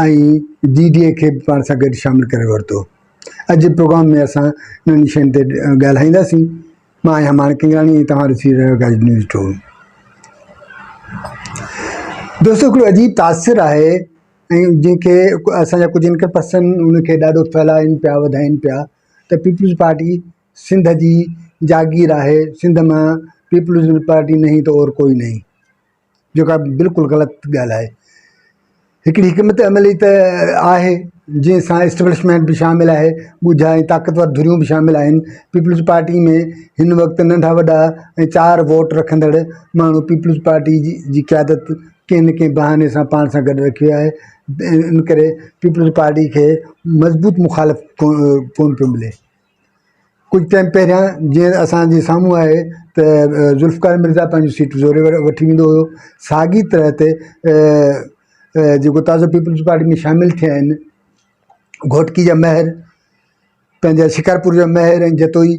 ۽ G D A کي به پاڻ سان گڏ شامل ڪري ورتو. اڄ جي پروگرام ۾ اسان انهن شين تي ڳالهائينداسين. مان آهيان ماڻڪ ڪنگراڻي ۽ توهان ڏسي رهيا آهيو گائيڊ نيوز ٽو. دوستو هڪڙو عجيب تاثر آهي ۽ جنهن کي اسان جا ڪجهه انڪر پرسن ان کي ڏاڍو ڦهلائين پيا وڌائين پيا ته پيپلز پارٽي سنڌ جي جاگير آهي سنڌ مان پيپلز پارٽي نهين تو اور ڪوئي نهين. جيڪا بلڪل غلط ڳالهه آهي هڪڙي حڪمت عملي ته آهي جنهن سان اسٽبلشمينٽ به شامل آهي ڳجها ۽ طاقتور ڌريون به شامل آهن پيپلز پارٽي ۾ هن وقت ننڍا وڏا ۽ چار ووٽ رکندڙ ماڻهو پيپلز پارٽي جي جي قيادت ڪنهن نه ڪنهن بهاني سان پاڻ سان گڏ رکي آهي ان ڪري پيپلز پارٽي کي مضبوط مخالف ڪو ڪونه پيو ملي ڪجهه ٽائيم پهريان جيئن اسان جي سامهون آهي ته ذوالفقار مرزا پنهنجي سيٽ زوري ور وٺي ويندو هيو ساڳي طرح تي جيڪو تازو پيپلز پارٽي ۾ شامل ٿيا آهن گهوٽڪي جا مهر پنهنجا شڪارپور جا مهر ۽ جتوئي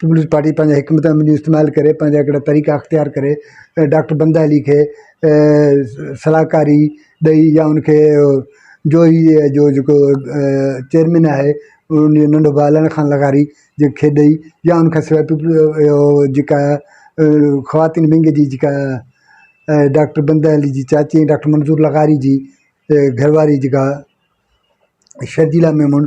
پيپلز پارٽي پنهنجي حڪمت عملي استعمال ڪري پنهنجا هڪڙا طريقا اختيار ڪري ۽ ڊاڪٽر بندا علي کي صلاحڪاري ڏئي يا ان کي جو هي جو جيڪو چيئرمين آهي ان جو ننڍو ڀاء علي خان لغاري جنهن کي ڏئي يا ان کان سواء جيڪا خواتين ونگ جي جيڪا ڊاڪٽر بندا علي جي چاچي ۽ ڊاڪٽر منظور لغاري جي گهر واري جيڪا شرجيلا ميمڻ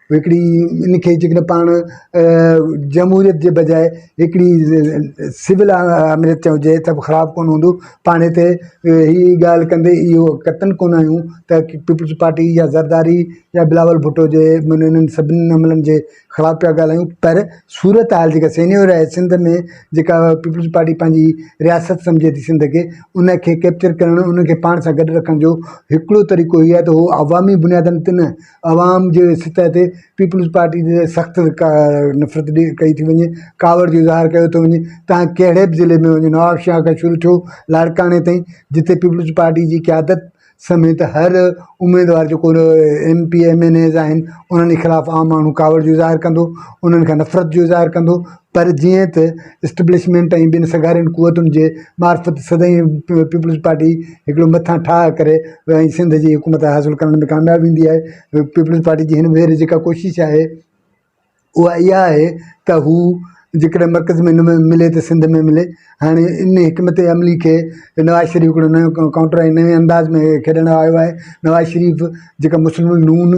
هڪڙي ان کي جيڪڏهن پاڻ جمهوريت جي بجاء هڪڙي سول آمريت چئجي هجي ته به خراب ڪونه هوندو پاڻ هتي هي ڳالهه ڪندي اهو قطعن ڪونه آهيون ته پيپلز پارٽي يا زرداري يا بلاول ڀٽو جي معنيٰ انهن سڀني عملن جي خلاف پيا ڳالهايون پر صورت حال جيڪا سينيور آهي سنڌ ۾ جيڪا پيپلز پارٽي پنهنجي رياست سمجهي ٿي سنڌ کي ان کي ڪيپچر ڪرڻ ان کي پاڻ سان گڏ رکڻ جو هڪڙو طريقو هي آهي ته هو عوامي بنيادن تي نه عوام جي سطح تي پيپلز پارٽي جي سخت ڪا نفرت ڏي ڪئي ٿي وڃي ڪاوڙ جو اظهار ڪيو ٿو وڃي تان ڪهڙي به ضلعي ۾ نواب شاهه کان شروع ٿيو لاڙڪاڻي تائين جتي پيپلز پارٽي جي قيادت سميت هر اميدوار جو ڪو M P M N As آهن انهن جي خلاف عام ماڻهو ڪاوڙ جو اظهار ڪندو انهن کان نفرت جو اظهار ڪندو پر جيئن ته اسٽبلشمينٽ ۽ ٻين سگهارين قوتن جي معرفت سدائين پيپلز پارٽي هڪڙو مٿان ٺاهه ڪري ۽ سنڌ جي حڪومت حاصل ڪرڻ ۾ ڪامياب ويندي آهي. پيپلز پارٽي جي هن ڀيري جيڪا ڪوشش آهي اها اها آهي ته هو جيڪڏهن مرڪز ۾ نه ملي ته سنڌ ۾ ملي. هاڻي ان حڪمت عملي کي نواز شريف هڪڙو نيون ڪائونٽر ۽ نئين انداز ۾ کيڏڻ آيو آهي. نواز شريف جيڪا مسلم نون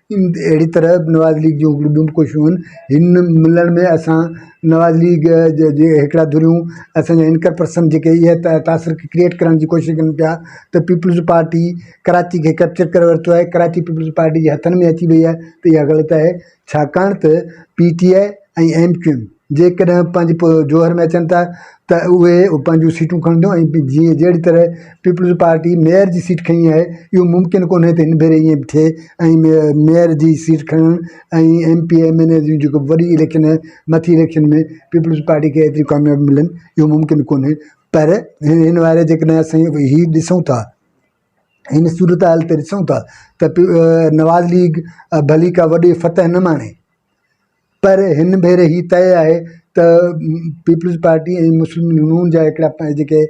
اهڙي طرح نواز ليگ جون هڪڙيون ٻيون به ڪوششون هن هن ملڻ ۾ اسان نواز ليگ جي جي هڪڙا ڌريون اسانجا انڪر پرسن جيڪي اهي ته تاثر کي ڪريئٽ ڪرڻ جي ڪوشش ڪن پيا ته پيپلز پارٽي ڪراچي کي ڪيپچر ڪري ورتو آهي ڪراچي پيپلز پارٽي جي هٿن ۾ اچي وئي آهي ته اها غلط آهي ڇاڪاڻ ته P T I ۽ M Q M جيڪڏهن پنهنجي پوء جوهر ۾ اچن ٿا ته اهي پنهنجون سيٽون کڻنديون ۽ جيئن جهڙي طرح پيپلز پارٽي ميئر جي سيٽ کڻي آهي اهو ممڪن ڪونهي ته هن ڀيري ائين به ٿئي ۽ ميئر جي سيٽ کڻڻ ۽ M P M N A جون جيڪو وڏي اليڪشن آهي مٿي اليڪشن ۾ پيپلز پارٽي کي ايتريون ڪاميابيون ملن اهو ممڪن ڪونهي پر هن واري جيڪڏهن اسين هي ڏسون ٿا هن صورتحال تي ڏسون ٿا ته نواز ليگ ڀلي ڪا وڏي فتح نه ماڻي پر هن ڀيري هي طئي آهي ته پيپلز پارٽي ۽ مسلم ليگ نون جا هڪڙا جيڪي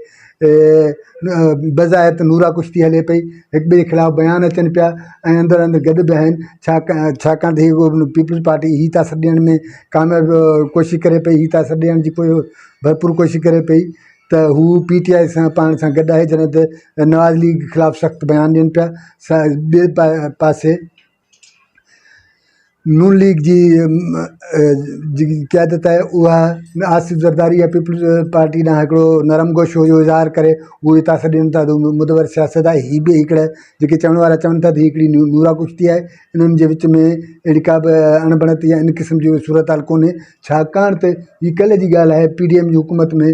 بظاهر ته نورا ڪشتي هلي پئي هڪ ٻئي جي خلاف بيان اچن پيا ۽ اندر اندر گڏ به آهن ڇا ڇاڪاڻ ته هي پيپلز پارٽي هي ٿا سڏ ڏيڻ ۾ ڪامياب ڪوشش ڪري پئي هي ٿا سڏ ڏيڻ جي ڪوشش ڀرپور ڪوشش ڪري پئي ته هو پي ٽي آئي سان پاڻ سان گڏ آهي جڏهن ته نواز ليگ خلاف سخت بيان ڏين پيا سا ٻئي پاسي نون ليگ جي جيڪي قيادت آهي اها آصف زرداري يا پيپلز پارٽي ڏانهن هڪڙو نرم گوشو هو جو اظهار ڪري هو هتا سڏ ڏين ٿا مدور سياست آهي هي به هڪڙا جيڪي چوڻ وارا چون ٿا ته هي هڪڙي نورا ڪشتي آهي انهن جي وچ ۾ اهڙي ڪا به اڻ بڻت يا ان قسم جي صورتحال ڪونهي ڇاڪاڻ ته هي ڪلهه جي ڳالهه آهي پي ڊي ايم جي حڪومت ۾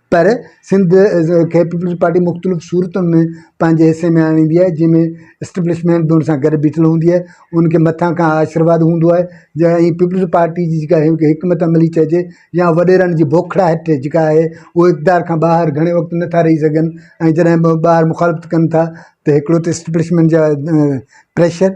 پر سنڌ کي پيپلز پارٽي مختلف صورتن ۾ پنهنجي حصي ۾ آڻيندي آهي جنهن ۾ اسٽبلشمينٽ به ان سان گڏ بيٺل هوندي آهي ان کي مٿان کان آشرواد هوندو آهي جا ائين پيپلز پارٽي جي جيڪا حڪمت عملي چئجي يا وڏيرن جي بوکڙائٽ جيڪا آهي اهو اقتدار کان ٻاهر گهڻي وقت نٿا رهي سگهن ۽ جڏهن به ٻاهر مخالفت ڪن ٿا ته هڪڙو ته اسٽبلشمينٽ جا پريشر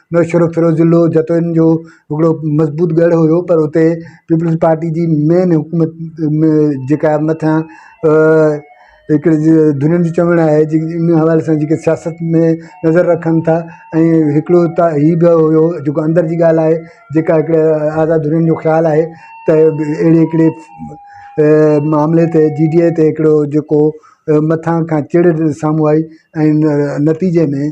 نوشھرو فيروز ضلعو جتوئين جو ھڪڙو مضبوط ڳڙھ ھيو پر اتي پيپلز پارٽي جي مين حڪومت جيڪا مٿان ھڪڙي ڌرين جو چوڻ آھي جي ان حوالي سان جيڪي سياست ۾ نظر رکن ٿا ۽ ھڪڙو ھتا ھي بھ ھيو جيڪو اندر جي ڳالھھ آھي جيڪا ھڪڙي آزاد ڌرين جو خيال آھي تھ اھڙي ھڪڙي معاملي تي جي ڊي اي تي ھڪڙو جيڪو مٿان کان چڙ سامھون آئي ۽ نتيجي ۾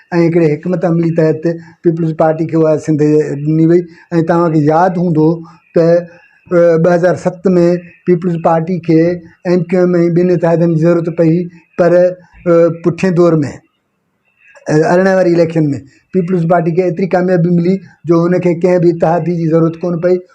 ۽ هڪڙي حڪمت عملي تحت پيپلز پارٽي کي اها سنڌ ڏني وئي ۽ توهان کي ياد هوندو ته ٻه هزار ست ۾ پيپلز پارٽي کي ايم ڪيو ايم ۽ ٻين اتحادين جي ضرورت پئي پر پٺئين دور ۾ ارڙهن واري اليڪشن ۾ پيپلز پارٽي کي ايتري ڪاميابي ملي جو هن کي ڪنهن به اتحادي جي ضرورت ڪونه پئي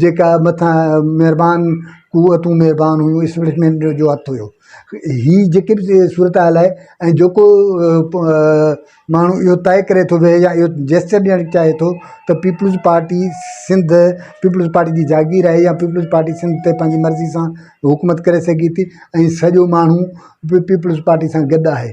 جيڪا مٿان مھربان قوتون مھربان ھيون اسپلٽمينٽ جو ھٿ ھيو ھي جيڪي بھ صورتحال آھي ۽ جيڪو ماڻھو اھو طئي ڪري ٿو ويھي يا اھو جيسچر ڏيڻ چاھي ٿو تھ Peoples Party Sindh Peoples Party جي جاگير آھي يا پيپلز پارٽي سنڌ تي پنھنجي مرضي سان حڪومت ڪري سگھي ٿي ۽ سڄو ماڻھو پيپلز پارٽي سان گڏ آھي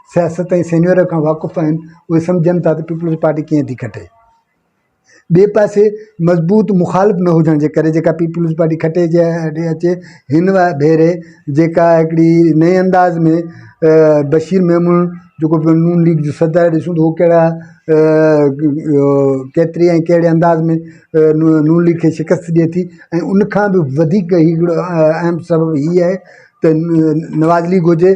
سياست ۽ سينيور کان واقف آهن اهي سمجهن ٿا ته پيپلز پارٽي ڪيئن ٿي کٽي ٻئي پاسي مضبوط مخالف نه هجڻ جي ڪري جيڪا پيپلز پارٽي کٽي جي هيٺ اچي هن ڀيري جيڪا هڪڙي نئين انداز ۾ بشير محمود جيڪو پيو نون ليگ جو صدر ڏسون ٿو ڪهڙا ڪيتري ۽ ڪهڙي انداز ۾ نون ليگ کي شڪست ڏئي ٿي ۽ ان کان بي وڌيڪ هڪڙو اهم سبب هي آهي ته نواز ليگ هجي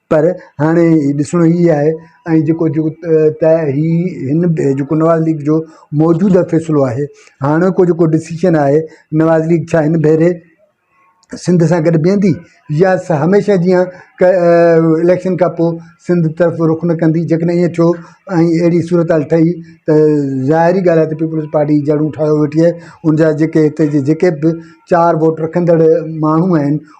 پر هاڻي ڏسڻو هي آهي ۽ جيڪو جيڪو ته هي هن جيڪو نواز ليگ جو موجوده فيصلو آهي هاڻوڪو جيڪو ڊسيشن آهي نواز ليگ ڇا هن ڀيري سنڌ سان گڏ بيهندي يا هميشه جيان اليڪشن کان پوء سنڌ طرف رخ نه ڪندي جيڪڏهن ائين ٿيو ۽ اهڙي صورتحال ٺهي ته ظاهري ڳالهه آهي ته پيپلز پارٽي جڙون ٺاهيو ويٺي آهي ان جا جيڪي هتي جي جيڪي به چار ووٽ رکندڙ ماڻهو آهن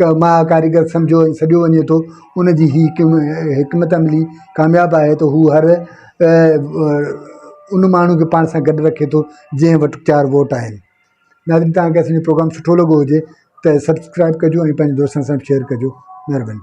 ڪما ڪاريگر سمجهيو ۽ سڏيو وڃي ٿو، ان جي هي حڪمت عملي ڪامياب آهي ته هو هر ان ماڻهو کي پاڻ سان گڏ رکي ٿو جنهن وٽ چار ووٽ آهن. ناظرين توهان کي اسانجو پروگرام سٺو لڳو هجي ته سبسڪرائيب ڪجو ۽ پنهنجي دوستن سان به شيئر ڪجو مهرباني.